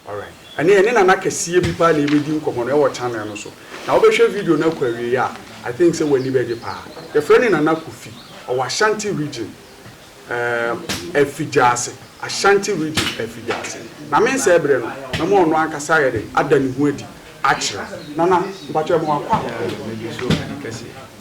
Alright. Ɛne ɛne nana kɛseɛ bi paa na yɛbɛdi nkɔmmɔ no ɛwɔ channel no so. Na wobɛhwɛ video no akɔ awieeɛ a, I think sɛ w'ani bɛgye paa. Yɛfrɛ no Nana Kofi. Ɔwɔ Ashanti region, um, Afigyase. Ashanti region, Afigyase. Na me nsɛe berɛ no, mɛma ɔno ankasa ayɛ dɛn? Ada ne ho adi akyerɛ. Nana, mpakyɛ yɛma wo akɔ a. Yɛda wo ase kɛseɛ.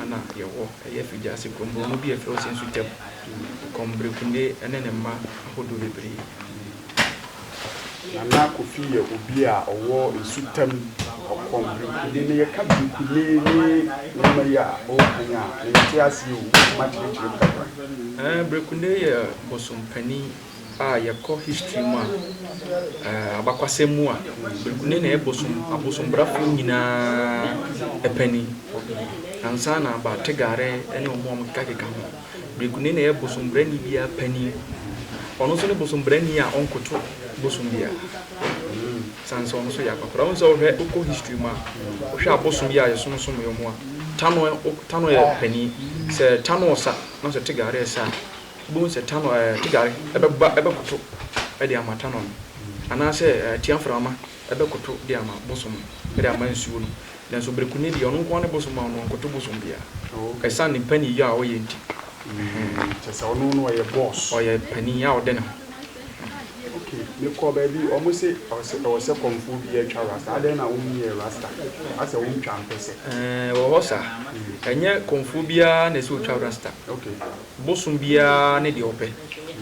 Ana yɛwɔ ɛyɛ fidwiase krɔnbrɔnn bi a ɛfrɛ ɔse nso gya mu, kɔmberekune ne ne mma ahodoɔ bebree. Nana Kofi yɛ obi a ɔwɔ nsutam ɔkɔmberekune na yɛka berekune ne nneɛma yi a ɔreka yi a, mente aseɛ o, wobɛtumi akyerɛkyerɛ mu kakra? Berekune yɛ bosompanin. a yɛkɔ history mu a, eh, abakwasɛm mu a, ne na ɛbosom, abosombrafoɔ nyinaa panin. Ansa na ba Tegare ne ɔmo a ɔmo keka keka ho. Bereku ne na ɛyɛ bosombrani biara panin. Ɔno nso ne bosombrani a ɔnkoto bosom biara. San sɛ ɔno nso yɛ akwakoraa. Wohu sɛ wohwɛ wokɔ history mu a, wohwɛ abosom yi a yɛsom som yɛ ɔmo a, Tano, Tano yɛ panin. Sɛ Tano sa, na sɛ Tegare sa a, Wobɛhu sɛ Tanɔ, ɛɛ, Tigare bɛba bɛkoto de ama Tanɔ no, anaasɛ, ɛɛ, Tiamframma bɛkoto de ama bosom no, de ama nsuo no. Nanso Berekuni deɛ, ɔno nko ara ne bosom a ɔno ɔnkoto bosom biara, ɛsiane ne mpaninyɔ a ɔyɛ nti. Ɛhɛn. Kyerɛ sɛ ɔno na ɔyɛ boss. Ɔyɛ panin a ɔde ne ho. Ok, mekɔɔ baabi, wɔn se ɔsɛ, ɛwɔ sɛ kɔmfoɔ biara twa rasta, adɛn na wonyɛɛ rasta? Asɛ wontwa mpɛsɛ? Ɛɛ, ɛwɔ hɔ saa. Ɛnyɛ kɔmfoɔ biara na ɛsɛ sɛ ɔtwa rasta. Ok. Bosom biara ne deɛ ɔpɛ.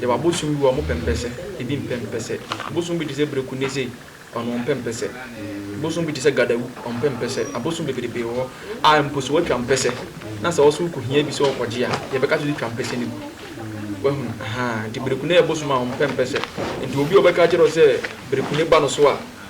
Yɛwɔ abosom bi wɔ hɔ a wɔpɛ mpɛsɛ, ebi mpɛ mpɛsɛ. Bosom bi te sɛ Bereku nnɛ sei, ɔno ɔmpɛ mpɛsɛ. Bosom bi te sɛ Gadawu, ɔmpɛ mpɛsɛ. Abosom bebrebe wɔ hɔ a mpo sɛ watwa mpɛsɛ na sɛ wo nso wokɔhia bi sɛ wokɔgye a, yɛbɛka sɛ twa mpɛsɛ no gu. Woahunu? Ahaa, nti Bereku nnɛ yɛ bosom a ɔmpɛ mpɛsɛ. Nti obi a ɔbɛka akyerɛ wo sɛ Bereku nnɛ ba no so a,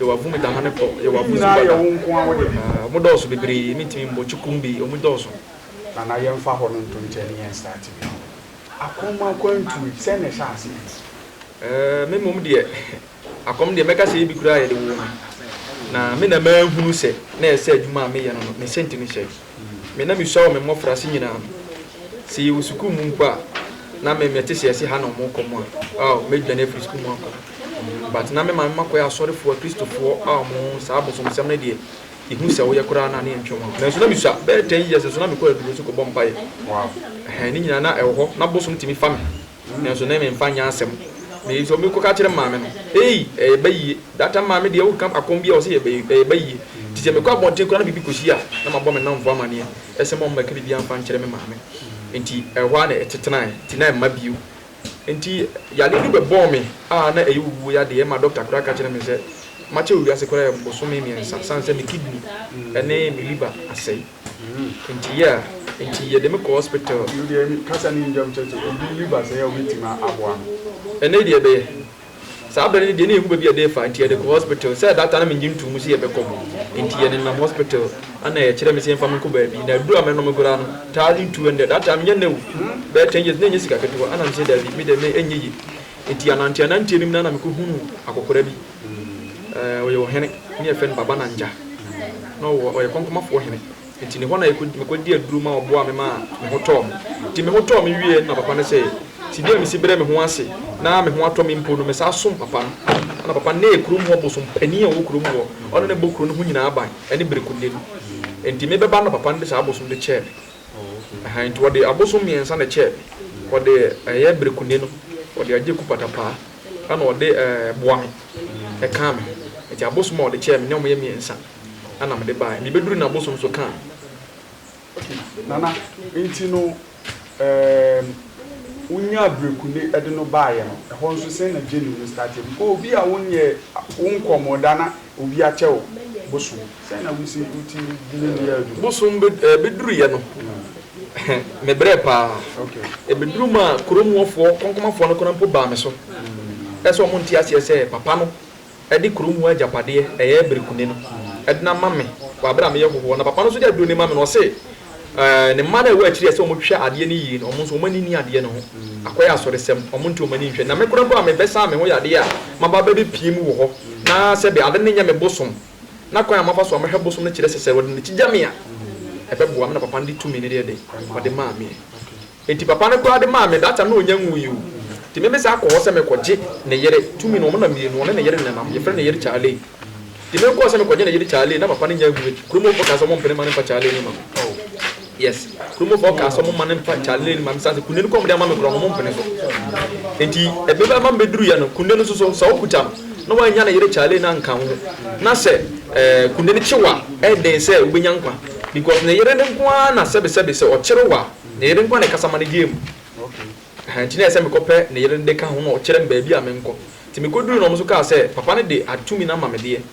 Yɛ w'afum de dane kɔ. Yɛ w'afum so ba da. Wɔn dɔɔso bebree, mentumi mmɔ kye kum bi, wɔn dɔɔso. Nana yɛmfa hɔ no nto nkyɛn ne yɛn start bi no. Akɔm akwantuo yi, sɛn na ɛhyɛ aseɛ yi? Ɛɛ, me mmom deɛ, akɔm deɛ mɛka sɛ ebi koraa a yɛde woo me, na me na mahunu sɛ na ɛsɛ adwuma a meyɛ no no, me sɛnti no hyɛ. Me na misua wɔ me mmofraase nyinaa no. Sɛ yɛwɔ sukuu mu mpo a, na me mete sɛ ɛse ha na wɔn kɔ mu a, oh, mɛdwane afiri sukuu mu akɔ. But na me maame makɔyɛ asɔrefoɔ a Kristofoɔ a wɔn saa bosomsɛm no deɛ, yɛhu sɛ woyɛ koraa no a na yɛntwam a. Nanso na misua. Bɛyɛ ten years nso na mekɔ aduro so kɔbɔ mpaeɛ. Wow. Ɛhɛn, ne nyinaa na ɛwɔ hɔ, na bosom tumi fa me. Nanso ne memfa nyɛ asɛm. Meyɛ sɛ ɔbɛkɔ ka kyerɛ maame no. Ei, ɛyɛ ba yie. That time maame deɛ woka akɔm biara ɔse ɛyɛ ɛyɛ ba yie. Nti sɛ mekɔ abɔnten koraa na biribi kɔsi a, na mabɔ me nnamfo amaneɛ. Ɛsɛ ma ɔmmɛka biribiara mfa nkyerɛ me maame. Nti ɛhɔ ara na ɛtetenae. Nti na ɛmma bio. Nti yadeɛ no bɛbɔɔ me a na ɛyɛ owuo yadeɛ. Ɛma dɔkta koraa ka kyerɛɛ me sɛ makyɛ wɔ wiase koraa yɛ bosome mmiɛnsa sane sɛ me kidney ne me liver asɛe. Nti yeah nti yɛde me kɔ hospital. Yiw deɛ me kasa ne ndwom kyɛ sɛ obi nni ba sɛɛ a obetumi aboa me. Ɛnɛ deɛ ɛbɛyɛ. Saa bere no deɛ na ehu baabi a ɛde refa nti yɛde kɔ hospital. Sɛ that time na mennye ntoo mu sɛ yɛbɛkɔ mu nti yɛde nam hospital ɛna yɛkyerɛ me sɛ yɛmfa me nkɔ baabi na aduru a mɛnom koraa no thousand two hundred that time nyɛ nnɛ o bɛyɛ ten years na ɛnyɛ sika ketewa ɛna mese daabi me deɛ me ɛnyɛ yie nti ananteananteɛ no mu no ɛna mekɔhunuu akɔkora bi Ɛɛ, ɔyɛ ɔhene, ne yɛfrɛ no Baba Nangya. Na ɔwɔ, ɔyɛ Kɔnkɔmafoɔ hene. Nti ne hɔ na yɛkɔ, mekɔdi aduro ma ɔboaa me maa me ho tɔɔ me. Nti me ho tɔɔ me wieɛ no na papa no sɛ, si bi a mesi brɛ me ho ase na me ho atɔ me mpo no, mesan som papa no. Ɛna papa no, na ɛyɛ kurom hɔ bosom panin a ɔwɔ kurom hɔ. Ɔno na ɛbɔ kuro no ho nyinaa ban, ɛne Berekunde no. Nti me bɛba no na papa no de saa abosom de kyɛɛ me. Ɛhaa, nti ɔde abosom mmiɛnsa na ɛkyɛɛ me. Ɔde ɛyɛ Berekunde no, ɔde agye Kupatapaa. Ɛna ɔde boa me, ɛkaa me. Enti abosom a ɔde kyɛɛ me ne wɔn yɛ mmiɛnsa ɛna mede baeɛ. Mebɛduruu no abosom nso kaa me. Okay, Nana, enti no ehm, wonyaa Brekunde de no baeɛ no, ɛhɔ nso sɛn na journey no starteɛ? Because obi a wonyɛɛ, wonkɔɔ mo da na obi akyɛ wo bosom. Sɛn na wusi woti dwuma bi a aduru? Bosom bɛduruiɛ no, mebrɛɛ pa ara. Ɛbɛduruu mu a, kurom hɔfoɔ, Kɔnkɔmafoɔ no koraa mpo baa me so sɛ wɔnte aseɛ sɛ papa no de kurom hɔ agyapadeɛ, ɛyɛ berekuni no, denam ama me wɔ berɛ a meyɛ hɔhoɔ. Na papa no nso de aduro no ma me na ɔse ne mma no a ɛwɔ akyiri a ɛsɛ sɛ wɔhwɛ adeɛ no yie no, wɔn nso wɔn ani nni adeɛ no ho. Akɔyɛ asoresɛm, wɔnte wɔn ani nhwɛ. Na me koraa mpo a mebɛsaa me ho yadeɛ a, maba abɛbɛpue mu wɔ hɔ na sɛbe ade no nyɛ me bosom. na kwan a mafa so a mɛhwɛ bosom no kyerɛ sɛ sɛ wɔde n'akyi gya me a ɛbɛboa me na papa no de tumi no deɛ dɛn ɔde maa me enti papa no koraa de maa me that time na ɔnya nwui o enti me mesan kɔ hɔ sɛ mekɔgye ne yere tumi no wɔn na mmienu wɔne ne yere nenam yɛfrɛ ne yere Charley enti mekɔɔ sɛ mekɔgye ne yere Charley na papa no nya nwui kurom hɔfoɔ kaa sɛ wɔmpene ma no mfa Charley no ma me. Yes kurom hɔ kaa sɛ ɔmo ma no mfa Charlene ne Maame Sase kunde no kɔ ɔmo de ama me koraa ɔmo mpene so enti ɛbɛba ma me bɛduru yɛ no kunde no nso so sɛ ɔkuta no na wannya ne yere Charlene anka ho na sɛ ɛɛ kunde no kye wo a ɛyɛ den sɛ wobɛnya nkwa because ne yere no nko ara na sɛbe sɛbe sɛ ɔkyere wo a ne yere nko ara na ɛkasa ma no gyeɛ mu ɛhaa enti na ɛyɛ sɛ mekɔ pɛ ne yere no de ka ho na ɔkyerɛ me baabi a menkɔ enti mekɔduru no ɔmo nso kaa sɛ papa no de atumi no ama me deɛ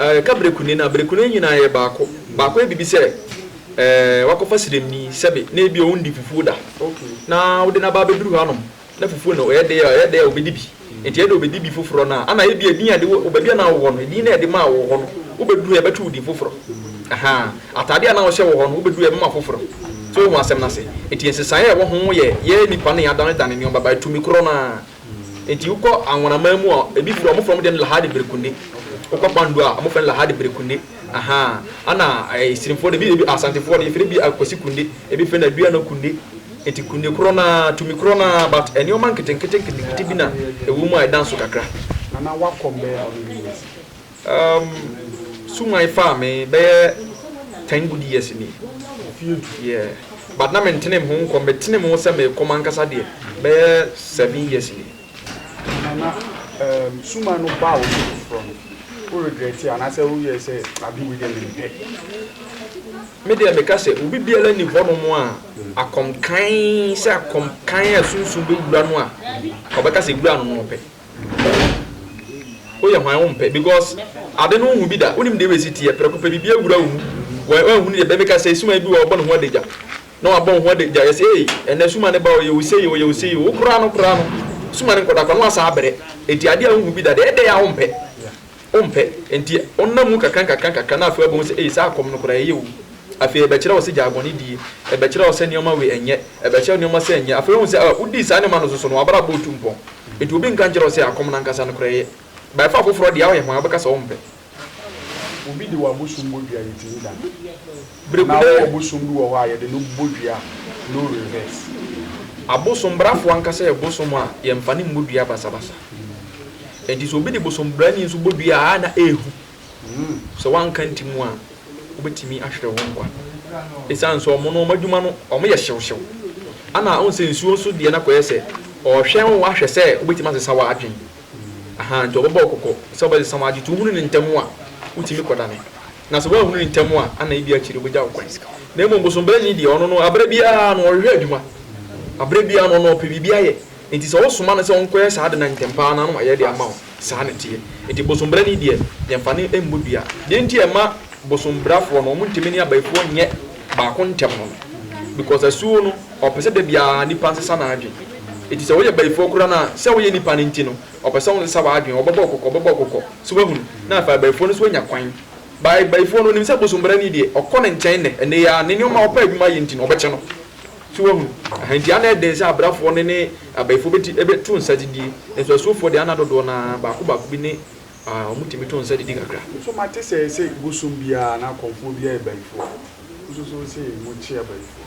Eh, ka brekuni no a, brekuni no nyinaa yɛ baako. Baako yɛ biribi sɛ eh, wakɔfa sremni sɛbe na ebi ɔndi fufuo da na wode no aba abɛduru hanom na fufuo no ɛyɛ dɛ a ɛyɛ dɛ a ɔbɛdi bi nti ɛyɛ dɛ ɔbɛdi bi foforɔ no a ana ebi edin a de wɔ baabi a na wowɔ no edin na ɛde maa wɔ hɔ no wobɛduru hɔ yɛbɛto wo din foforɔ aha ataadeɛ a na wɔhyɛ wɔ hɔ no wobɛduru hɔ yɛbɛma foforɔ so wohu asɛm no ase nti nsesaeɛ a ɛwɔ ho yɛ yɛ nipa no yɛ adanedane nneɛma by tumi korɔ no ara Enti wokɔ anwonaman mu a, ebi firi hɔ a, wɔfrɛ wɔn deɛ Lahadi Berekunde. Wokɔ Kpando a, wɔfrɛ no Lahadi Berekunde. Ahaa. Ɛna Esirimfoɔ deɛ, ebi, ebi, Asantefoɔ deɛ, yɛfrɛ bi Akwasi Kunde, ebi frɛ no Aduana Kunde. Enti Kunde korɔ no ara, tumi korɔ no ara, but nneɛma nketenkete nketenkete bi na ɛwɔ mu a ɛda nso kakra. Nana, woakɔ mbɛyɛ how many years? Um, Sungai faa me bɛyɛ ten good years ni. Yeah, but na mentenem ho nkɔm, metenem ho sɛ merekɔ m'ankasa deɛ bɛyɛ seven years ni. Nana, um, Suma no baa wo so foforɔ no, wo regret anaasɛ woyɛ sɛ ade wei deɛ mempɛ? Me deɛ meka sɛ obi biara nni hɔnom a akɔmkan sɛ akɔmkan a sunsum bɛwura no a ɔbɛka sɛ wura no na ɔpɛ. Woyɛ hwan wompɛ because ade no wonhu bi da wonim deɛ w'asi teɛ prɛko pɛ biribi awura wo mu wanhunu deɛ bɛmeka sɛi suman bi wɔ ɔbɔ ne ho adagya na wabɔ wo ho adagya yɛse ei ɛnɛ suman ne ba ɔyɛ wo sei ɔyɛ wo sei o wokora no kora no suman nkɔda kwa na wasan abrɛ enti adeɛ a wonhu bi da deɛ ɛdɛn a wompɛ. Wompɛ, enti wonam mu nkakrankakra na afei woabɛhu sɛ, ei, saa kɔm no koraa, ɛyɛ o. Afei ɛbɛkyerɛ wo sɛ gyae bɔne die, ɛbɛkyerɛ wo sɛ nneɛma wei ɛnyɛ, ɛbɛkyerɛ wo nneɛma sei ɛnyɛ. Afei woahu sɛ, ah, wodii saa nneɛma no nso so no, w'abrabɔ retu mpɔn. Enti obi nka nkyerɛ wo sɛ akɔm no ankasa no koraa, ɛyɛ. By far foforɔ deɛ, woyɛ hwan a wobɛka sɛ wompɛ? Obi de w'abosom bɔ dua, yɛtumi da. Bere bi na ɔbosom bi wɔ hɔ a yɛde no bɔ dua no reverse. Abosom brafo ankasa yɛ bosom a yɛmfa no mmɔ dua basabasa. Enti sɛ obi de bosom brani nso bɔ dua a na ehu. Sɛ woanka ntim a wobetumi ahwere wo nkwa. Esiane sɛ wɔn no wɔn adwuma no wɔyɛ hyewhyew ana wohu sɛ nsuo nso deɛ na kɔyɛ sɛ ɔrehwɛn wo ahwɛ sɛ wobetumi asesa w'adwene. Ahaa, nti wɔbɛbɔ wo kɔkɔ sɛ wobɛsesa w'adwe. Sɛ wohunu no ntɛm a, wotumi kɔdane. Na sɛ woanhunu no ntɛm a, ana ebia akyiri wobɛgya wo kwan. Na mmom bosombrɛni deɛ, ɔno no, berɛ biara no ɔhwehwɛ adwuma. Berɛ biara no, ɔno ɔpɛ biribi ayɛ. Enti sɛ wosoma no sɛ ɔnkɔyɛ saa ade no a, ntɛm pa ara no, na wayɛ de ama wo. Saa na ɛteɛ. Enti bosombrɛni deɛ, yɛmfa no mmɔ dua. Deɛ enti a ɛma bosombrafoɔ no wɔntumi ne abayifoɔ nyɛ baako ntɛm no, because asuo no, Ɔpɛ sɛ da biara nnipa nsesa n'adwene. Enti sɛ woyɛ bayifoɔ koraa no a, sɛ woyɛ nnipa no nti no, ɔpɛ sɛ wonsesa w'adwene. Wɔbɛbɔ wo kɔkɔ, wɔbɛbɔ wo kɔkɔ. So woahunu? Na afei abayifoɔ no nso anya kwan. Bayi, bayifoɔ no, ɔnim sɛ bosombrani deɛ, ɔkɔ ne nkyɛn nnɛ, ɛnnɛ yi ara, ne nneɛma a ɔpɛ adwuma ayɛ nti no, wɔbɛkyɛ no. So woahunu? Aha, enti ana ɛyɛ den sɛ abrafoɔ no ne abayifoɔ bɛti, bɛto nsa gyidie? Nanso asuofoɔ deɛ, ana dodoɔ no ara, baako baako bi ne ah, wɔtumi to nsa gyidi kakra. So mate sɛ, sɛ bosom biara anaa kɔmfoɔ biara yɛ bayifoɔ a, nso so wose mokye abayifoɔ?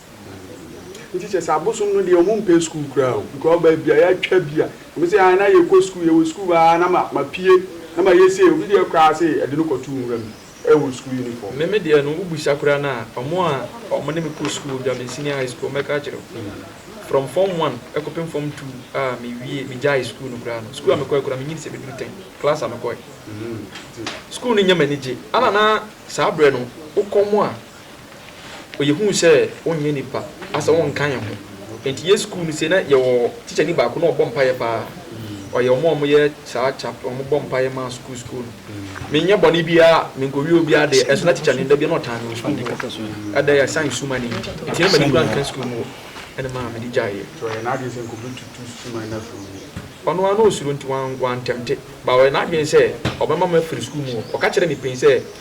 Nti kyerɛ sɛ abosom no deɛ wɔmpɛ school koraa o because baabi a yɛatwa bi a wɔn se ae na yɛkɔ school yɛwɔ school hɔ aa na mapue na mayɛ sei obi deɛ koraa se ɛde no kɔtoo nwura mu ɛwɔ school uniform. Me me deɛ no wo bisa koraa no a wɔn a wɔn ne me kɔ school Dwame senior high school mɛka akyerɛ wo from form one ɛkɔpem form two a mewie megyae school no koraa no school a mekɔɛ koraa menyi di sɛ meduru ten class a mekɔɛ school no nyɛ m'anigye ana na saa berɛ no wokɔ mo a Ɔyɛ hu sɛ wonyɛ nipa asɛ wonka yɛn ho nti yɛ sukuu no sei na yɛwɔ teacher ni baako na ɔbɔ mpaeɛ paa ɔyɛ ɔmo a ɔmo yɛ saa chap ɔmo bɔ mpaeɛ maa sukuu sukuu no menyɛ bɔne biara menkɔwie obiara deɛ ɛso na teacher no da bia na ɔtaa me wɔ sukuu mu hɔ ɛda yɛ asan suma no nti nti na m'ani kura nka sukuu mu hɔ ɛne maa mede gyaeɛ nti ɔyɛ n'adwene sɛ nkɔbɛtutu suma no afiri mu ɔno ara na ɔsuro nti wantɛmte ba ɔyɛ n'adwene sɛ ɔbɛma me afiri sukuu mu hɔ ɔka kyerɛ me pɛn sɛ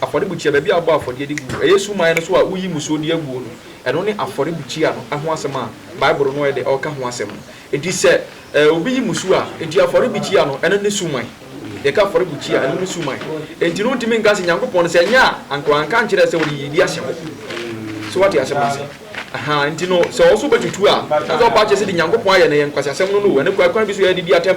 Afɔrebukyia, baabi a wɔbɔ afɔdeɛ de gu. Ɛyɛ suman no so a woyi mmusuo de aguo no, ɛno ne afɔrebukyia no ho asɛm a Bible no de reka ho asɛm no. Enti sɛ obi yi mmusuo a, enti afɔrebukyia no, ɛno ne suman. Yɛka afɔrebukyia a, ɛno ne suman. Enti no wontumi nka sɛ Nyankopɔn, sɛ ɛnyɛ a anka wanka ankyerɛ sɛ wɔde yiyedi ahyɛ hɔ. So woate asɛm no ase? Ahaa, enti no sɛ ɔwɔ so bɛtutu a, na sɛ ɔba akyerɛ sɛ deɛ Nyankopɔn ayɛ no yɛ nkwaseasɛm no no o, ɛno kwan bi so yɛde di atɛm.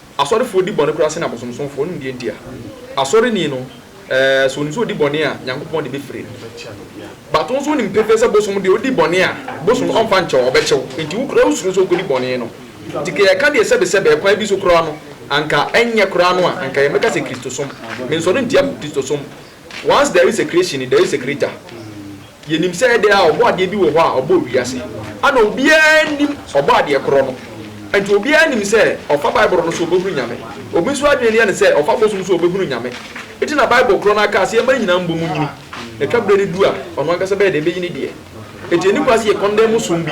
Asɔrefoɔ di bɔne koraa sene abosomsomfoɔ no deɛ nti a, asɔreni no, sɛ ɔnim sɛ ɔdi bɔne a, Nyankopɔn de bɛfiri no. But wo nso wonim pefee sɛ bosom deɛ ɔdi bɔne a, bosom no ɔmfa nkyɛ wo, ɔbɛkyɛ wo. Nti wo koraa wosuro sɛ wokɔdi bɔne no. Nti kɛ yɛka deɛ sɛbesɛbe, ɛkwan bi so koraa no, anka ɛnyɛ koraa no a, anka yɛmmɛka sɛ Kristosom. Mensɔre ntia Kristosom. Once there is a creation, there is a creator. Yɛnim sɛ ɛdɛ a ɔbɔadeɛ bi wɔ hɔ a ɔbɔɔ wiase. Ɛna obiara nnim ɔbɔadeɛ korɔ no. Ɛnti obiara nim sɛ ɔfa Bible no so ɔbɛhunu Nyame. Obi nso adwene no yɛ no sɛ ɔfa bosom so ɔbɛhunu Nyame. Nti na Bible korɔ no ara kaa sɛ yɛmma ne nyinaa mmɔ mu nyini. Na twa berɛ no du a, ɔno ankasa bɛyɛ dɛ ɛbɛyi ne deɛ. Ɛnti ɛnni kwan sɛ yɛ condemn som bi,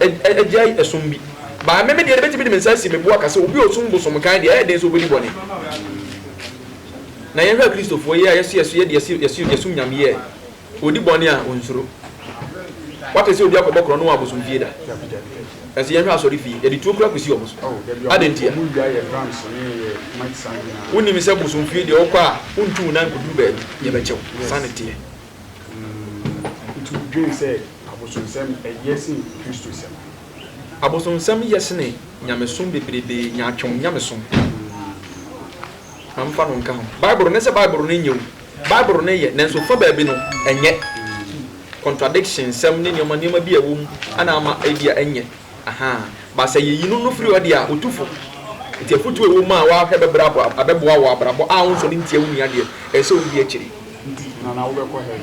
agyae ɛsom bi. But ɛme me deɛ, mɛtumi de me nsa asi me bo aka sɛ obi a ɔsom bosom kan deɛ, ɛyɛ den sɛ ɔbɛdi bɔne. Na yɛhwɛ a Kristofoɔ yi a yɛse yɛso yɛde yɛse yɛse yɛsom Nyame yi ɛ, ɔdi bɔne a ɔnsuro? Wate sɛ obi akɔbɔ korɔno wɔ abosomfie da? Ɛnso yɛnhwɛ asɔrefie, yɛde tuo kura kɔsi wɔn so. Adɛn ntia? Wonim sɛ bosomfie deɛ wokɔ a wontu wo nan nkɔduru baabi, yɛbɛkyɛ wo. Saa na ɛteɛ. Abosomsɛm yɛ sene nyamesom bebrebe, nyaatwom nyamesom. Ma memfa no nka ho. Bible no ne sɛ Bible no nyɛ o. Bible no yɛ, nanso fa baabi no, ɛnyɛ. Contradiction nsɛm ne nneɛma nneɛma bi a ɛwɔ mu na ama ebi a ɛnyɛ. Aha. Ba sɛ yeyi no no firi hɔ deɛ a, otu fo. Nti afotu a ɛwɔ mu a woahwɛ bɛbrɛ abo, abɛboa wo wɔ abrabɔ a wonsɔre ntia wo nua deɛ, ɛsɛ sɛ wudi akyiri. Nti, Nana, wobɛkɔ hɛn?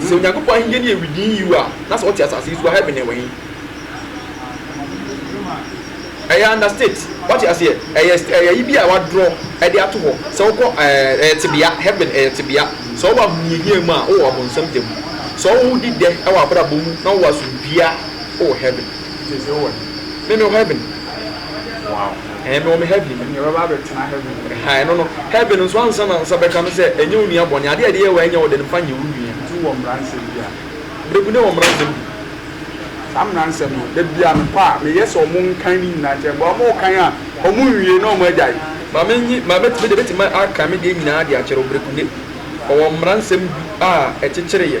Sɛ Onyankopɔn Ahenni no yɛ widenyi yiw a, na sɛ ɔte asase yi so a, heaven no wɔ he? Ɛyɛ understate. Woate aseɛ? Ɛyɛ st ɛyɛ ayi bi a wɔadorɔ de ato hɔ. Sɛ wokɔ ɛɛ ɛyɛ tebea, heaven ɛyɛ tebea. Sɛ wowɔ ahohiahia mu a, wowɔ ɔbonsam gya mu. Sɛ wodi dɛ wɔ w'abrabɔ mu na wowɔ asomdwie a, wowɔ heaven. Sese wowɔ he? Me mewɔ heaven. Wow. Ɛɛ mewɔ me heaven. Ɛnneɛ bɛba abɛtena heaven mu. Ɛha ɛno no heaven nso ansa na nsa bɛka no sɛ ɛnyɛ wo nua bɔne adeɛ a ɛde yɛ wo a ɛnyɛ wo de no fa nyɛ wo nua. Nti wowɔ mmara nsɛm bi a. Berebu ne wɔ mmara nsɛm bi. Saa mmara nsɛm no da biara mekɔ a meyɛ sɛ wɔn nkan ne nyinaa kyɛ but wɔn rekan a wɔn nwie na wɔn agyae. Ma me nyi ma mɛtumi deɛ mɛtumi akan me deɛ nyinaa de akyerɛ wo berebu ne ɔwɔ mmara nsɛm bi a ɛkyekyere yɛ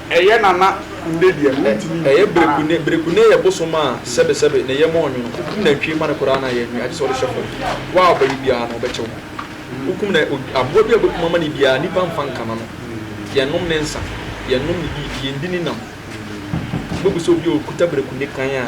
Ɛyɛ nana kunde deɛ no wontumi nni ɛyɛ bere kunde bere kunde yɛ bosom a sɛbe sɛbe ne yam ɔnwono wokum nantwie ma no koraa no a yɛ nwi agye sɛ wode hyɛ fam wo a ɔbɛwe biara no wobɛkyɛ wo ho wokum na aboa bi a wobɛkum ama no biara nipa mfa nka no no yɛn nom ne nsa yɛn nom ne biribi yɛn di ne nam wobɛbu sɛ obi a okuta bere kunde kan a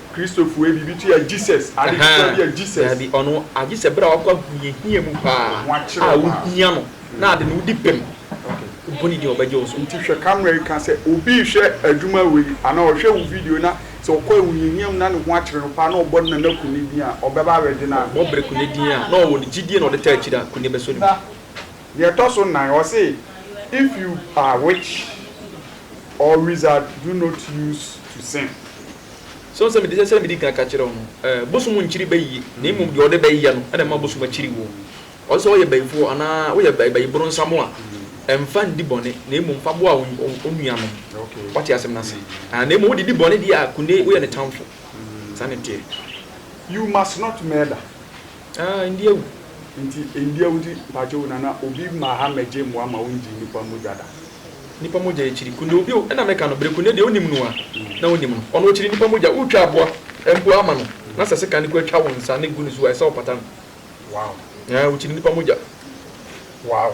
Kristofo ebi bi tua Jesus ade ketewa bi a Jesus. Dabi, ɔno agye sɛ bere a wakɔ ahohiahia mu paa a wuhia no na ade no wudi bem. Wobɔ ne din a, ɔbɛgye wo so. Nti hwɛ camera yi ka sɛ obi rehwɛ adwuma wei anaa ɔhwɛ wo video na sɛ ɔkɔ ahohiahia mu na ne ho akyere no paa na ɔbɔ ne nana Kune din a, ɔbɛba abɛgye no ana? Ɔbɔ Bere Kune din a na ɔwɔ no gyidie na ɔde taa akyiri a, Kune bɛsɔ ne mu. Deɛ ɛtɔ so nnan, ɔse if you are witch or wizard do not use to sing. So nsɛ mede sɛdeɛ medi kan ka kyerɛɛ wo no? Ɛɛ, bosom nkyiri bayie, na mmom deɛ ɔde bɛ yɛ no na ɛma bosom kyiri woɔ. Ɔsɛ sɛ woyɛ bayifoɔ anaa woyɛ bayiboronsam a, mfa ndi bɔne, na mmom fa boa wo nuanom. Woate asɛm no ase? Aane, na mmom wode di bɔne deɛ a, kone woyɛ ne tamfo. Saa na ɛteɛ. You must not murder. Aah ndi awu. Nti ndi awu ti mpakyɛw nana obi ma ha mɛgye mmoa ma wo ngyi nipa mogya da. Nipa mogya yɛ kyiri kunde obi o ɛna mɛka no bere kunde deɛ onim no a na onim no ɔno ɔkyiri nipa mogya wo twa aboa mpo ama no na sɛ sekan no kura twa wo nsa ne gu ne so a ɛsɛ ɔpata no wow ɛɛ ɔkyiri nipa mogya wow.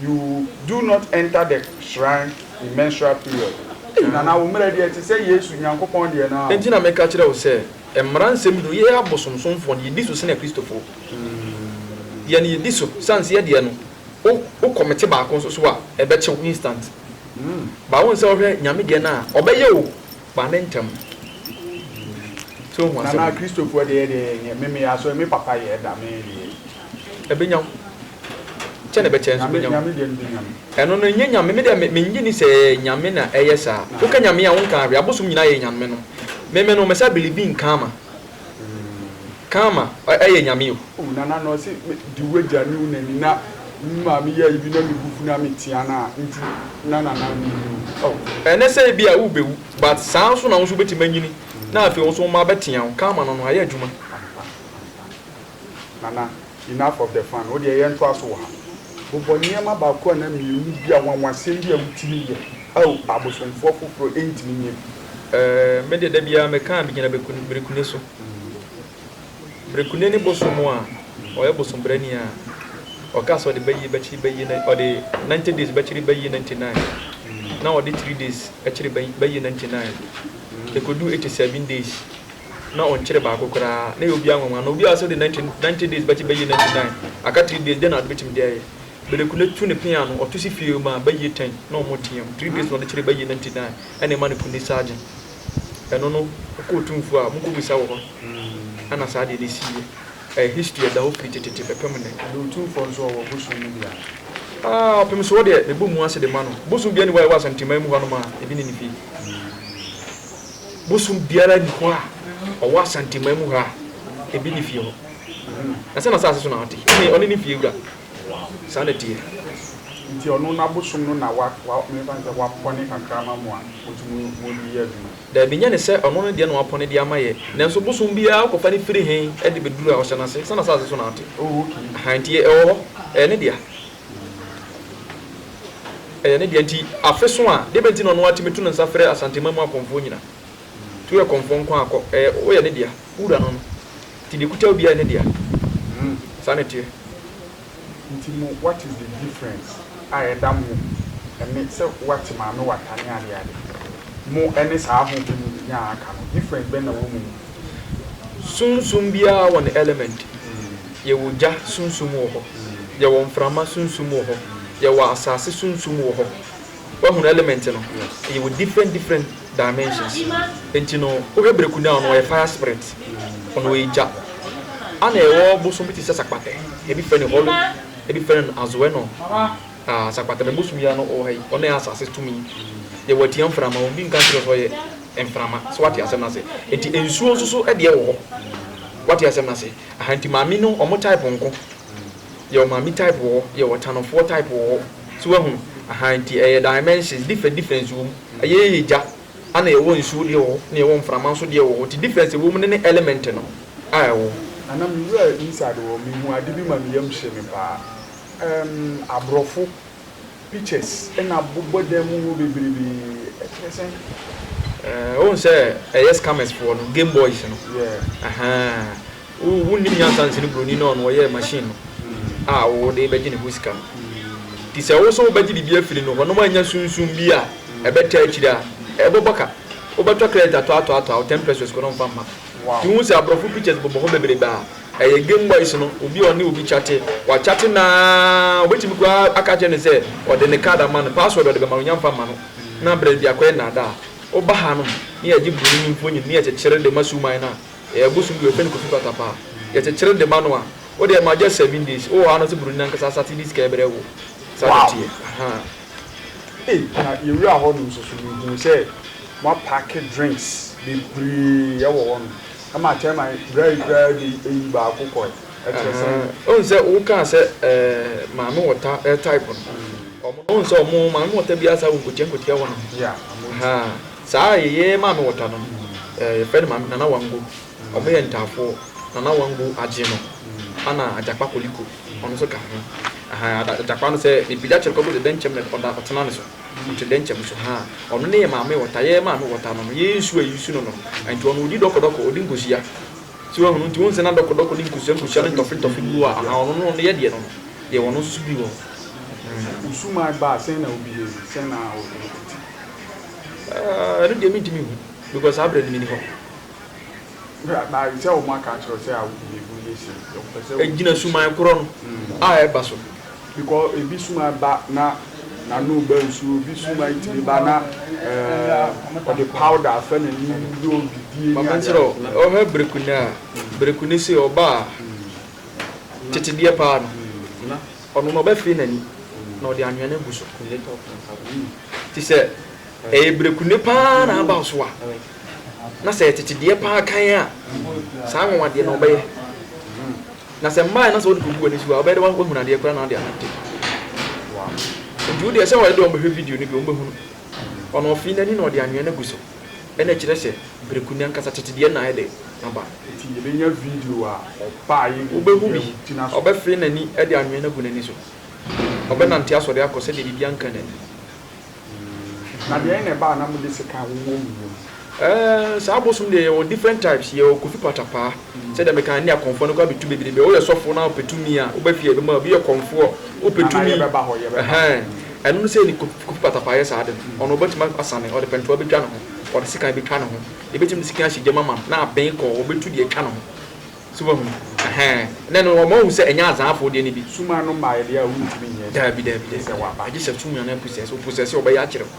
You do not enter the shrine in menstrual period. Ei, Nana, wo mmerɛ deɛ te sɛ Yesu, Nyankopɔn deɛ no ara o. Enti na meka kyerɛ wo sɛ, mmara nsɛm yi do, yɛ abosomsomfoɔ no, yɛdi so sene Kristofoɔ. Deɛ no yɛdi so, sane sɛ yɛdeɛ no, wo, wo kɔmete baako nso so a, ɛbɛkye wo instant. But wohu sɛ wohwɛ Nyame deɛ no a, ɔbɛyɛ o, Ba ne ntɛm. Sɛ ohu asɛm. Nana Kristofoɔ deɛ deɛ yɛnyɛ me me asɔre me papa yɛ da me deɛ. Ɛbɛnya wo. Kyɛ na ɛbɛkyɛ nso bɛnya wo. Nyame deɛ no bɛnya me. Ɛno no ɛnyɛ Nyame me deɛ me mennye ni sɛ Nyame na ɛyɛ saa. Woka Nyame a wonkaa hwee. Abosom nyinaa yɛ Nyamenom. Me me no mesa biribi nka ama. Karma yɛ nyame o. Oh nana na ɔse me di wagya ne wo nani na me maame yɛ ayi bi na me bu fu na me tea no a nti na nana me wu o oh. Ɛnɛ sɛ ebi a wo bɛ wu but saa nso na wo nso wobɛtumi anyini na afei wo nso wo mma abɛtea wo karma no no ayɛ adwuma. Nana, enough of the fun, wo deɛ yɛntoa so wɔ ha. Bobɔ nneɛma baako anaa mmienu bi a nwanwasɛm bi a wotumi yɛ a abosomfoɔ foforɔ ntumi nyɛ bi. Ɛɛ, me deɛ da biara meka a megyina Berekune so. Berekune ne bosom a ɔyɛ bosombrani a ɔka sɛ ɔde bɛyie bɛkyere bɛyie na ɔde ninety days bɛkyere bɛyie ninety nine na ɔde three days kyere bɛyie ninety nine ɛkɔduu eighty seven days. na ɔnkyere baako koraa na ɛyɛ obiara nwanwa na obiara sɛ ɔde ninety ninety days bɛkye bɛyie ninety nine aka three days dɛn na ɔde bɛtumi de ayɛ Beleku no tu ne pea ano ɔto si fie mu a bɛyie ten na ɔmo team three days na ɔde kyere bɛyie ninety nine ɛna ɛma no ku ne sergeant ɛno no ɔkɔ otumfuo a monkɔ bisa wɔ hɔ ɛna saa deɛ no siiɛ ɛyɛ history ɛda hɔ firi tetete bɛpem nnɛ. Ɛna otumfoɔ nso ɔwɔ bosom no bi a? Ah ɔpem soɔ deɛ mebɔ mu ase de ma no bosom biara nni hɔ a ɛwɔ Asanteman mu hɔnom a ebi nni ne fie. bosom biara nni hɔ a ɔwɔ Asanteman mu ha a ebi ne fie hɔ. Na sɛ n'asase so na ɔte, ɛnneɛ ɔne ne fie wura. Saa na ɛteɛ. Nti ɔno n'abosom no na wa, wa, memfa no sɛ wapɔne kakra ama mo a motumi mo de yɛ adwuma. Daabi, nyɛ no sɛ ɔno ne deɛ na wapɔne de ama yɛ. Nanso bosom biara wokɔfa no firi he de bɛduru ha? Ɔhyɛ n'ase sɛ n'asase so na ɔte. Oh, okay. Aha, nti ɛwɔ hɔ. Ɛyɛ ne dea. Ɛyɛ ne dea nti afe so a deɛ bɛnti na ɔno ara tumi to ne nsa frɛ Asanteman mu akɔmfoɔ nyina nti woyɛ kɔmfoɔ nko ara kɔ ɛyɛ woyɛ ne dea wo wura no no nti deɛ ɛkuta wo biara yɛ ne dea saa na ɛteɛ. Nti mo what is the difference a ɛda mo ɛne sɛ wate maame wata ne ade ade mo ɛne saa ho bi mo nyaa aka no difference bɛn na wɔ mo mu? Sunsum biara wɔ ne element. Yɛwɔ gya sunsum wɔ hɔ, yɛwɔ mframa sunsum wɔ hɔ, yɛwɔ asase sunsum wɔ hɔ. Woahunu element no? Yɛwɔ different different dimensions. Enti no, wohwɛ Brekudao no, ɔyɛ fire spirit, ɔno ɔyɛ gya. Ana yɛwɔ bosom bi te sɛ Sakpatɛ, ebi frɛ no Hɔlo, ebi frɛ no Azoɛnɔ. Ah, Sakpatɛ, me bosom yi ara no ɔwɔ ha yi, ɔno yɛ asase tumi. Yɛwɔ Atia mframa, obi nka nkyerɛ wo sɛ ɔyɛ mframa. So woate asɛm no ase? Enti nsuo nso so deɛ wɔ hɔ. Woate asɛm no ase? Aha nti maame no ɔmo type nko yɛ ɔmaame type wɔ hɔ yɛ ɔtanɔfoɔ type wɔ hɔ so wahunu aha nti ɛyɛ dimensions different difference wɔ mu ɛyɛ yɛ gya ɛna yɛwɔ nsuo deɛ wɔ hɔ na yɛwɔ mframa nso deɛ wɔ hɔ nti difference ɛwɔ mu ne ne element no a ɛwɔ hɔ. Ana me wura inside hɔ mehu ade bi ma me yam hye me paa ɛɛmm abrɔfo pictures na bobɔ dan mu hɔ bebrebe ɛkyerɛ sɛn. Ɛɛ ohun sɛ ɛyɛ scammers foɔ no game boys no. Ɛhɛn wo nim nyansa nsi no broni na ɔno ɔyɛ machine no hmm. a wɔde bɛgye ne ho sika no. Hmm. Ti sɛ woso wobɛgye biribi afiri no hɔ nom anya sunsun bi a hmm. ɛbɛtaa akyiri a ɛbɛbɔ ka wobɛtɔ credit atɔ atɔ atɔ a ten pesos kɔ no mfa mma. Ti hu sɛ aborɔfo pictures bobɔ hɔ bebrebe a Ɛyɛ Game Boys no, obi a ɔne obi kyate, wakyate no ara, wobɛtumi koraa aka akyerɛ no sɛ ɔde ne card ama no, password a ɔde bɛma no, ɔnnya mfa mma no, na berɛ biako yɛ nnaadaa. Woba hanom na yɛgye Buroni no mfonyin na yɛkyekyere de ma Suman no a, ɛyɛ bosom bi, wɔfrɛ no Kofi Patapaa, yɛkyekyere de ma no a, wode ɛma just seven days, wowɔ hɔ ara na ɔsɛ Buroni no ankasa asate de sika brɛ wo. Saa na ɛteɛ. Ahaa. Ei, na yɛwuraa hɔnom nso so, mehuu sɛ wɔapaake drinks bebree wɔ hɔnom. Ɛma Teman berae koraa de eyi baako kɔe. Ɛkyerɛ sɛn? Ɛhɛn. Wohu sɛ wokaa sɛ ɛɛ maame wɔta ɛɛ type no. Wɔn no wohu sɛ wɔn maame wɔta biara saa wɔ nkotia nkotia hɔ nom. Yeah, wɔn ti. Ahaa. Saa yɛyɛ maame wɔta no no, ɛɛ yɛfrɛ no maame Nana Wango. Wɔn yɛ Ntaafoɔ. Nana Wango agye no. Ɛna Agyakpa Koliko, ɔno nso ka ho. Ahaa, Agyakpa no sɛ mepagya kyɛ no kɔ akɔsi Dɛnkyɛm na ɔda ɔtena no so. Nkyɛ dɛ nkyɛ moso haa ɔno ne yɛ maame wɔ ta, yɛ maame wɔ ta no no, yɛyɛ nsu a yesu no no. Nkyɛ ɔno odi dɔkɔdɔkɔ, odi nkosua. Ntsi woehun? Ntsi wo nse na dɔkɔdɔkɔ ne nkosua nkosua ne ntɔfe ntɔfe bi wɔ hɔ a, ahaa, ɔno no, ɔno yɛ deɛ no no, yɛwɔ ɔno nso so bi wɔ hɔ. Sɛ wo suman ba a, sɛn na wobɛyɛ yi? Sɛn na wobɛyɛ? Aa, ɛno deɛ mentumi nhu, because saa berɛ no menni hɔ. Gyina suman korɔ no a ɛba so. Ɔhwɛ bereku no a, bereku no sei ɔba a, tete deɛ pa ara no, ɔno no ɔbɛfee n'ani na ɔde anwea no agu so. Te sɛ ɛyɛ bereku no pa ara na aba wo so a. na sɛ tete deɛ paa kan a, saa nwonwa deɛ na ɔbɛyɛ. Na sɛ mmaa na sɛ ɔde kɔgu w'ani so a, ɔbɛyɛ dɛ wahunu adeɛ koraa na ɔde anante. Nti wodeɛ sɛ ɔyɛ dɛ ɔmbɛhwɛ video no bi ɔmbɛhunu. Ɔno ɔfee n'ani na ɔde anwea no agu so. Ɛna ɛkyerɛ sɛ breku no ankasa tete deɛ no na ayɛ dɛ aba. Nti yɛbɛnya video a ɔbaeɛ ne biribi a ɔgyina so. Wobɛhu bi, ɔbɛfee n'ani de anwea no agu n'ani so. Ɔbɛnante asɔre akɔ sɛdeɛ biribiara nka n'ani. Na deɛn na ɛbaa na mode sekan wowɔ mo yam? Ɛɛɛ saa abosom deɛ yɛwɔ different types yɛwɔ kofi patapaa sɛdeɛ mekaa ne akɔmfoɔ no koraa bɛtu bebrebe woyɛ sɔfoɔ na wopɛ tumi a woba fie a yɛbɛma wo bi yɛ kɔmfoɔ wopɛ tumi ɛhɛɛn ɛno no sɛne kofi patapaa yɛ saa ade no ɔno ɔbɛtumi asane ɔde pɛntoa bɛtwa ne ho ɔde sekan bɛtwa ne ho yɛbɛtumi de sekan ahyɛ gyam ama no na abɛn kɔɔ ɔbɛtu deɛ atwa ne ho So wahu? Ɛhɛɛ. Ɛnɛ no, wɔma wohu sɛ ɛnyɛ Azaafo deɛ no bi. Sum ano mma yɛ deɛ a wontumi nyɛ adwuma. Daabi, daabi, daabi. Ɛsɛ waba. Agye sɛ sum ano apusɛe. Sɛ ɔpusɛe sɛ ɔbɛyɛ akyere wo.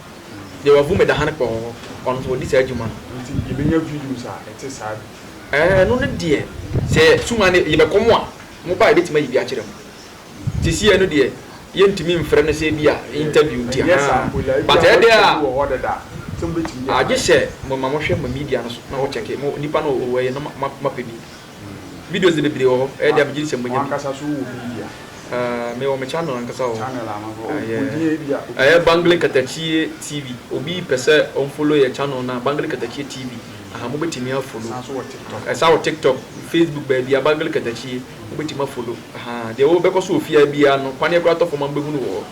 Deɛ wavu me da ha no kpɔɔ, ɔno nso ɔdi saa adwuma no. Nti yɛbɛnya videos a ɛte saa bi? Ɛɛ, ɛno no deɛ, sɛ sum ano yɛbɛkɔ mo a, moba a yɛbɛtumi ayi bi akyerɛ mo. Sesei no deɛ yɛntumi mfrɛ no sɛ ebia interview nti ahaa but ɛdɛ a ah gye sɛ mo ma mohwɛ mo media no so na mo check mo nipa no wɔ yɛ na ma pɛ bi videos no bebree wɔ hɔ ɛyɛ dɛ a megye di sɛ mo nya bi ah me wɔ me channel ankasa wɔ hɔ ah yeah ɛyɛ Bangle Katakyie TV obi pɛ sɛ ɔn follow yɛ channel no a Bangle Katakyie TV ahaa mo bɛtumi a follow ɛsan wɔ TikTok Facebook baabia Bangle Katakyie. Wobɛtumi a follow ahaa deɛ wobɛkɔ so wɔ fie ha biara no kwane koraa tɔ fam a mobɛhunu wɔ hɔ.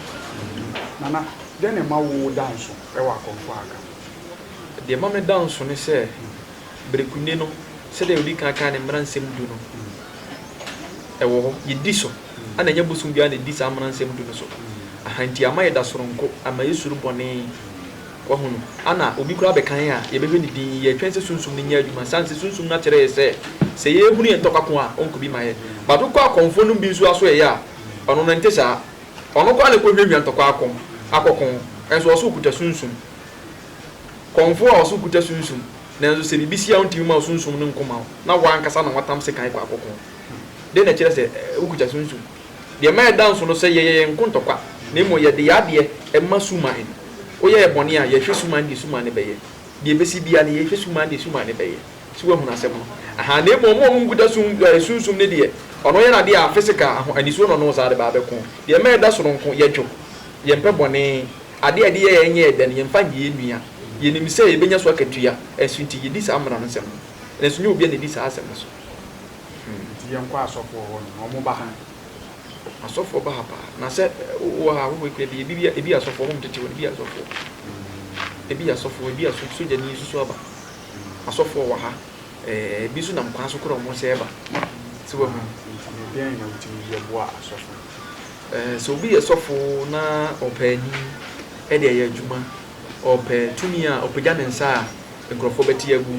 Nana, dɛn na ɛma wo da nso wɔ akɔmfoɔ a aka no ho? Deɛ ɛma me da nso ne sɛ, berekuni no, sɛdeɛ ɔdi kan kaa no mmara nsɛm du no, ɛwɔ hɔ, yɛdi so, ɛna ɛnyɛ bosom biara na ɛdi saa mmara nsɛm du no so, ahaa, nti ama yɛda soronko, ama yɛsuro bɔne. Wahu no? Ana obi koraa bɛka yɛn a yɛbɛhwɛ ne dinn? Yɛtwɛn sɛ Sunsum no nyɛ adwuma, siane sɛ Sunsum no akyerɛ yɛn sɛ, sɛ yɛrehunu yɛn ntɔkwa ko a, ɔnkɔ bi ma yɛn. But wokɔ akɔmfoɔ nom bi nso aso ɛyɛ a, ɔno no ɛnte saa. Ɔno koraa na ɛkɔhwiahwia ntɔkwa ako, akɔko, nso ɔse ɔkuta Sunsum. Kɔmfoɔ a ɔse ɔkuta Sunsum, nanso sɛ biribi si a ɔntumi mma wo Sunsum no nko mma wo, na wo ankasa na woatam sekan kɔ akɔko. Dɛn na ɛkyerɛ sɛ wokuta Sunsum? Deɛ ɛma ɛda nso no sɛ yɛyɛ yɛn nko ntɔkwa, na mmom yɛde yɛn adeɛ ma suman. Woyɛ yɛn bɔne a, yɛhwɛ suman deɛ suman no bɛyɛ. Deɛ ɛbɛsi biara no, yɛhwɛ suman deɛ suman no bɛyɛ. So woahunu asɛm no? Ahaa, na mmom wɔn a wɔnkuta sum, ɛɛ, sunsum no deɛ, ɔno yɛ n'adeɛ a, physical, aho, anisoɔ na ɔno saa de ba abɛko. Deɛ ɛma ɛda so no nko, yɛdwo. Yɛmpɛ bɔne. Adeɛ a yɛde yɛ yɛn nyɛ yɛn dɛ no, yɛmfa nyɛ yɛn nua. Yɛnim sɛ yɛbɛnya so akatua, ɛnso nti, yɛdi saa mmara no nsɛm no. Nanso nyɛ obiara na ɛdi saa asɛm no so. Nti yɛnkɔ asɔfoɔ hɔ no na ɔmo ba ha. Asɔfoɔ ba ha paa na sɛ wowɔ ha wowɔ ekura bi ebi ebi asɔfoɔ ɔmo tete wɔn ebi asɔfoɔ ebi asɔfoɔ ebi aso sogyani nso so aba asɔfoɔ wɔ ha ɛɛ ebi nso nam kwan so kora ɔmo sɛ ɛba sɛ wɔn mu. Nti na deɛn na wotumi yɛ boa asɔfo. Ɛɛ sɛ obi yɛ sɔfo na ɔpɛ anim ɛde ɛyɛ adwuma ɔpɛ tumi a ɔpagya ne nsa a. nkurɔfoɔ bɛte agu,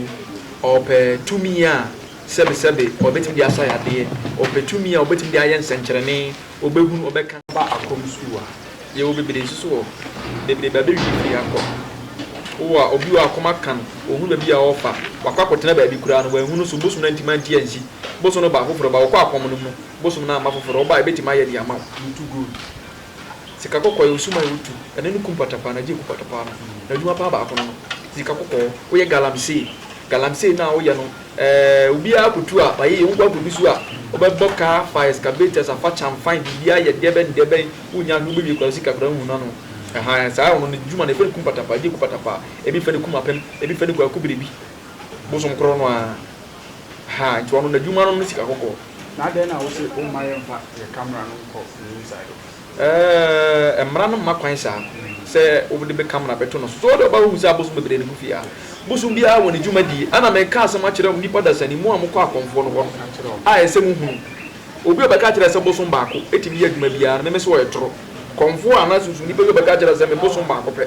ɔpɛ tumi a sɛbesɛbe ɔbɛtumi de asa yadeɛ, ɔpɛ tumi a ɔbɛtumi de ayɛ nsɛnkyerɛnne, ɔbɛhunu, ɔbɛka. Ba akɔm sukuu a yɛwɔ bebree nso so wɔ bebree ba bɛwie firi ha kɔ wo a obi wɔ akɔm aka no ɔhunu baabi a ɔrefa wakɔ akɔtena baabi koraa no wanhunu so bosom no antumi ante ansi bosom no ba afoforɔ ba wokɔ akɔm no mu bosom no amma foforɔ woba a ɛbɛtumi ayɛ de ama wo you too good Sika kɔkɔɔ yɛ osuman a wotu ɛne no kum patapaa na gye ku patapaa no. N'adwuma paa baako no no. Sika kɔkɔɔ, woyɛ galamsey. Galamsey no a woyɛ no, ɛɛ obiara kotu a, wayɛ yie. Wokɔ akɔdu so a, wobɛbɔ kaa fa, excavator, afa kyam fine, biribiara yɛ dɛ bɛn dɛ bɛn, wonnya hwee, wobɛwie koraa sika koraa nhunu ano. Ɛhaa, saa ɔno n'adwuma no, yɛfrɛ no kum patapaa, gye ku patapaa. Ebi fɛ no kum apem, ebi fɛ no koraa ku biribi. Bosom koro no ara. Ahaa nti ɔno n'adwuma no ne sika kɔkɔɔ. Na adɛn na wose womma yɛmfa yɛn camera no nkɔ ne inside office? Ɛɛɛ mmara no mma kwan saa sɛ wode me camera bɛto no so. So wode ɔba wohu sɛ abosom bebree na egu fie ha? Bosom biara wɔ ne dwumadie. Ɛna meka asɛm akyerɛ nnipa dasani mu a mokɔ akɔmfoɔ no hɔ no a ɛsɛ mohunu. Obi a ɔbɛka akyerɛ sɛ bosom baako tumi yɛ adwuma biara no meme sɛ ɔyɛ toro. Kɔmfoɔ anaa sunsum nipa bi a ɔbɛka akyerɛ sɛ me bosom baako pɛ.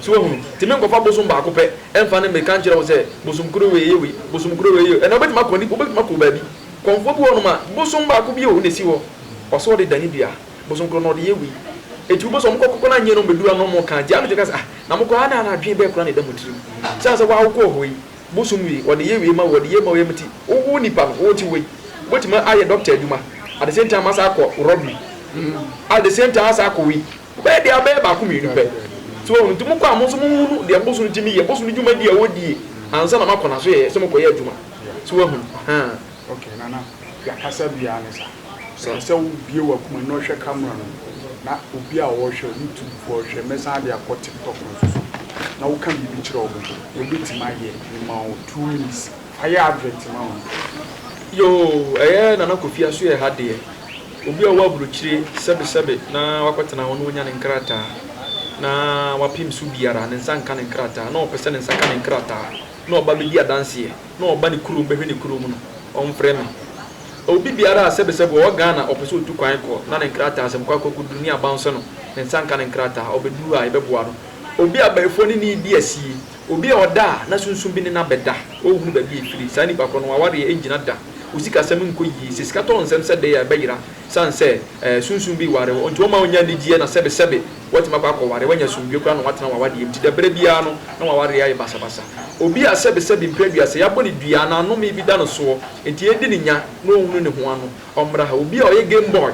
So wahu? Nti menkɔfa bosom baako pɛ mfa ne mmirika nkyerɛ wo sɛ, Bosom koro wei yɛ wei, bosom koro wei yɛ wei. Ɛnna wobɛtumi akɔ ni, wobɛtumi akɔ baabi. Kɔmfoɔ bi wɔ hɔnom a, bosom baako bi o na ɛsi hɔ. Ɔsɛ ɔde dane dua. Bosom koro no ɔde yɛ wei. Enti wobɛhu sɛ wɔkɔkɔkɔ no annyɛ na wɔbɛduru ha na wɔreka, gye anadwo ka sɛ, Ah, na mokɔ ha na na adwene bɛn koraa na ɛda mo tirim? Ɛsiane sɛ wo ara wokɔɔ hɔ yi, bosom wei, ɔde yɛ wei ma wo, ɔde yɛ wei ma wo nti, wo wo nipa no, wote hɔ yi, wobɛtumi ayɛ dɔkta adwuma, at the same time asan akɔ robbery, at the same time asan akɔ wei. Ɔbɛyɛ deɛ abɛyɛ baako mmienu pɛ. So wahu? Nti mokɔ a mo nso monhunu deɛ boso no tumi yɛ, boso no dwumadie a ɔdie ansa na moakɔ n'asoɛeɛ sɛ mokɔyɛ adwuma. So wahu? Ahaa. Okay Nana, deɛ kasa biara ne saa. Ɛsɛ sɛ wo bue w'akoma na ɔhwɛ camera no na obi a ɔrehwɛ YouTube foɔ rehwɛ. Mɛsan de akɔ TikTok nso so na woka biribi kyerɛ wɔn. Yɛbɛtumi ayɛ. Mema wo two minutes. Ayɛ advert ma wo. Yoo ɛyɛ Nana Kofi aso yɛ ha deɛ. Obi a ɔwɔ abrokyire sɛbe sɛbe na wakɔtena hɔ na ɔnya ne nkrataa na wapem so biara ne nsa nka ne nkrataa na ɔpɛ sɛ ne nsa ka ne nkrataa na ɔba bɛdi adanseɛ na ɔba ne kurom bɛhwɛ ne kurom no ɔmfrɛ me. Obi biara a sɛbe sɛbe ɔwɔ Ghana ɔpɛ sɛ ɔtu kwan kɔ na ne nkrataa asɛm kɔ akɔ akɔduru ne abansɛ no ne nsa nka ne nkrataa ɔbɛduru ha yɛbɛboa no. Obi a abayifoɔ ne ne redi asie. Obi a ɔda a na sunsum bi ne no abɛda, ɔnhunu baabi a ɛfiri. Saa nipa korɔ no, w'awareɛ rengyina da. Wo sikasɛm nkɔ yie. Sɛ sika tɔ nsɛm sɛ dɛn a, ɛbɛyera. Sane sɛ ɛɛ sunsum bi ware wo nti, wɔmma wonnya anigyeɛ na sɛbesɛbe woatumi akɔ akɔware. Woanya asomdwoeɛ koraa na woatena w'awadeɛ mu nti, da berɛ biara no na w'awareɛ ayɛ basabasa. Obi a sɛbesɛbe mprɛ du a sɛ yɛabɔ no dua anaa nnome bi da no soɔ nti yɛredi no nya na ɔnhunu ne ho ano, ɔmmra ha. Obi a ɔyɛ game boy,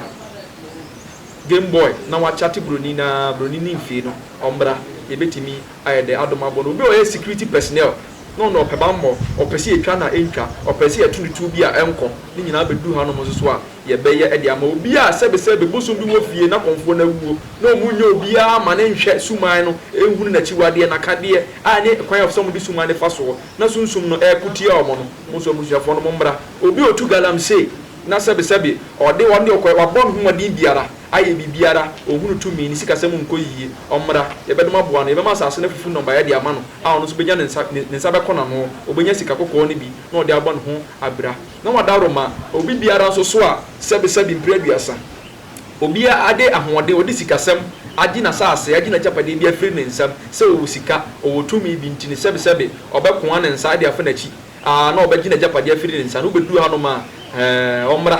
game boy, na wakyate buroni no ara, buroni no mfee no, ɔmmra. Yɛbɛtumi. Ayɛ dɛ adom abɔ no. Obi a ɔyɛ security personnel na ɔno ɔpɛ bammɔ, ɔpɛ sɛ yɛtwa no a ɛntwa, ɔpɛ sɛ yɛto no tuo bi a ɛnkɔ, ne nyinaa bɛduru hanom nso so a, yɛbɛyɛ de ama obi a sɛbesɛbe bosom bi wɔ fie na kɔmfoɔ no awuo na wɔnnya obiara mma no nhwɛ suman no nhunu n'akyiwadeɛ, n'akadeɛ a ɛne kwan a ɛsɛ sɛ wɔde suman no fa soɔ na sunsum no reko tia wɔn no. Mo nso abusuafoɔ no mommra. Obi a ɔtu galamsey na sɛbesɛbe ɔde wɔn deɛ ɔkɔɛ, wabɔ ne ho mmɔden biara, ayɛ biribiara, ɔhunu tumi, ne sikasɛm nkɔ yiye, ɔmmra, yɛbɛdom aboa no, yɛbɛma asase no afufu nnɔbaeɛ de ama no, a ɔno nso bɛnya ne nsa, ne nsa bɛkɔ n'ano, ɔbɛnya sika kɔkɔɔ no bi na ɔde abɔ ne ho abira. Na wada Roma obi biara nso so a sɛbesɛbe mpire aduasa. Obiara de ahoɔden, ɔde sikasɛm, agye n'asase, agye n'agyapadeɛ bi afiri ne nsam, sɛ ɔwɔ sika, ɔwɔ tumi bi nti no, sɛbesɛbe ɔbɛkoa ne nsa de afa n'akyi, aa, na ɔbɛgye n'agyapadeɛ afiri ne nsa, na wobɛduru hanom a, ɛɛ, ɔmmra.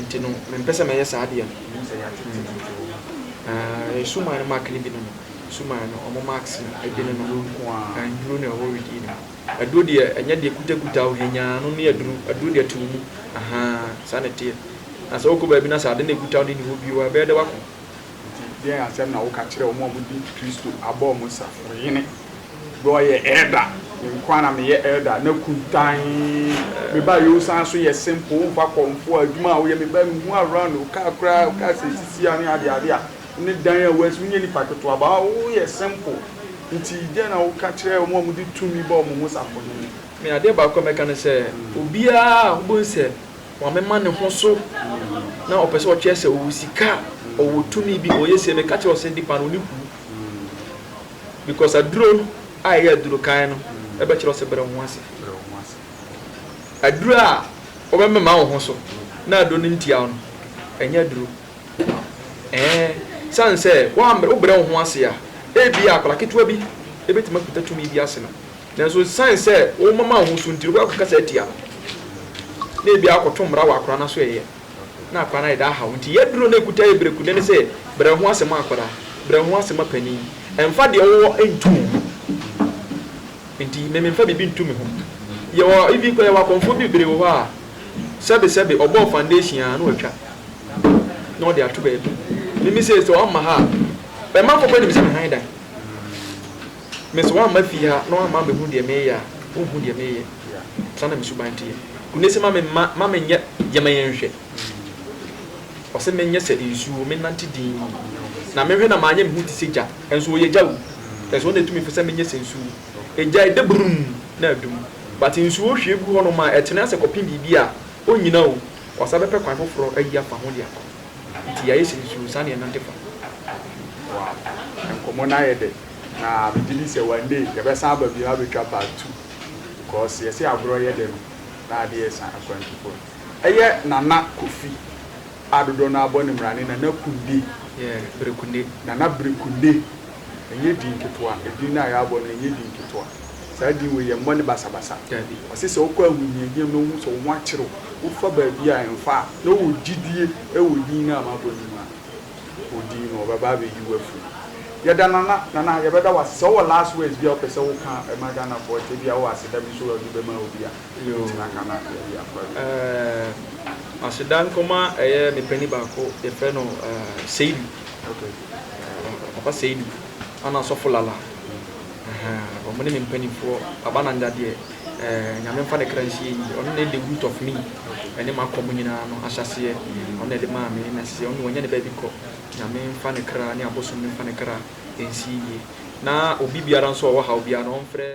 Nti no, mempɛ sɛ mɛyɛ saa adeɛ no. Menim sɛ yɛatete me nti wɔ hɔ. Na yɛn suman no mark no bi ne no. Suman no, wɔn marks no bi ne no. Aduro nko ara. Aduro na ɛwɔ weed yi no mu. Aduro deɛ, ɛnyɛ deɛ kutakuta wo hɛnyaa ano ne aduro. Aduro deɛ, to wo mu. Ahaa, saa na ɛteɛ. Na sɛ wokɔ baabi na sɛ ade na ɛkuta wo de nni hɔ bio a, ɛbɛyɛ dɛ woako. Nti deɛn asɛm na woka kyerɛ wɔn a wɔdi Kristo abɔ wɔn safoyene? Berɛ a ɔyɛ elder, me nko ara na meyɛ elder, na kuntann. Me ba Yeo san nso yɛ simple, womfa kɔmfoɔ, adwuma a woyɛ, me ba mehu around wo car koraa, wo car seat si ha ne adeade a, ne dan a woasi, wonyɛ nipa ketewa but woyɛ simple. Nti deɛn na woka kyerɛ wɔn a wɔde tumi bɔ wɔn ho safoyene? Me adeɛ baako a mɛka ne sɛ, obiara a wobɛhu sɛ Maame ma ne ho so na ɔpɛ sɛ ɔkyerɛ sɛ ɔwɔ sika, ɔwɔ tumi bi, ɔyɛ sei. Meka kyerɛ wo sɛ nipa no ne ku because aduro a ɛyɛ aduro kan no ɛbɛkyerɛ wo sɛ brɛ wo ho ase. Aduro a wɔbɛmema wo ho so na aduro no ntia wo no, ɛnyɛ aduro. Ɛɛ, sane sɛ wobrɛ wo ho ase a, ebia akwadaa ketewa bi bɛtumi akuta tumi bi ase no. Nanso esiane sɛ womama wo ho so nti, wobɛkɔ akɔkasa atia no, na ebia woakɔto mmara wɔ akwadaa no aso reyɛ, na akwadaa no ayɛ dɛ ahaw wo. Enti yɛn duro no a ekuta yɛ berekudi ne sɛ, brɛ wo ho ase ma akwadaa, brɛ wo ho ase ma panin. Mfa deɛ wowɔ nto wo ho nti, me memfa biribi nto me ho. Yɛwɔ even koraa yɛwɔ akɔmfoɔ bi bebree wɔ hɔ a, sɛbesɛbe ɔbɔɔ foundation ara na watwa na ɔde ato baabi. Mimi sei sɛ ɔmma ha a, ɛmanfoɔ koraa nim sɛ me han dan. Me sɛ woamma fie ha na woamma ammɛhunu deɛ mereyɛ a, wonhu deɛ mereyɛ. Saa na me suban teɛ. Kunese, ma memma, ma menyɛ, yɛ ma yɛnhwɛ. Ɔse menyɛ sɛ nsuo, mennante dinn, na menhwɛ na manyɛ me ho te sɛ gya, nso ɔyɛ gya o, nso ɔno na ɛtumi fɛ sɛ menyɛ sɛ nsuo. Egya ɛdɛ brum na adum, but nsuo hwie gu hɔnom a ɛtene ase kɔpem biribi a, ɔnnyina o, wasan bɛpɛ kwan foforɔ ayi afa ho de akɔ. Nti yɛayɛ sɛ nsuo, saa na yɛnante fa. Wow, nkɔmmɔ no ayɛ dɛ. Na me gye di sɛ one day yɛbɛsan aba bio abɛtwa part two because yɛse agorɔ yɛ dɛ no na ade ɛsa akwantufo no ɛyɛ Nana Kofi a dodoɔ no ara bɔ ne mmara ne Nana Kunde Yeah Brekunde. Nana Brekunde ɛnyɛ din ketewa ɛdin no a yɛabɔ no ɛnyɛ din ketewa saa din wei yɛmmɔ no basabasa Dabi. wɔse sɛ wokɔ ahohiahiam na wohu sɛ wo ho akyere wo wofa baabi a ɛmfa a na wowɔ gyidie wɔ din no a mabɔ no mu a. odii no ɔbɛba abɛyi wo afiri mu. Yɛda Nana Nana yɛbɛda wo ase sɛ wowɔ last words bi a wopɛ sɛ woka ma Ghanafoɔ kyɛ bi a wowɔ aseda bi nso a wode bɛma obi a tena ka na yɛde akɔ awie. Ɛɛ aseda nkɔma ɛyɛ me panin baako yɛfrɛ no ɛɛ Seidu okay ɛɛ papa Seidu ana sɔfo Lala ɛhɛn wɔn ne me mpaninfoɔ Baba Nanja deɛ eh, Nyame mfa ne kra nsie yie. Ɔno na ɛyɛ the root of me, ɛne m'akɔm nyinaa no ahyɛaseɛ. Ɔno na ɛde maa me, na sesei ɔno na wanya ne baabi kɔ. Nyame mfa ne kra ne abosom no mfa ne kra nsie yie. Na obi biara nso a ɔwɔ haw biara no, ɔmfrɛ.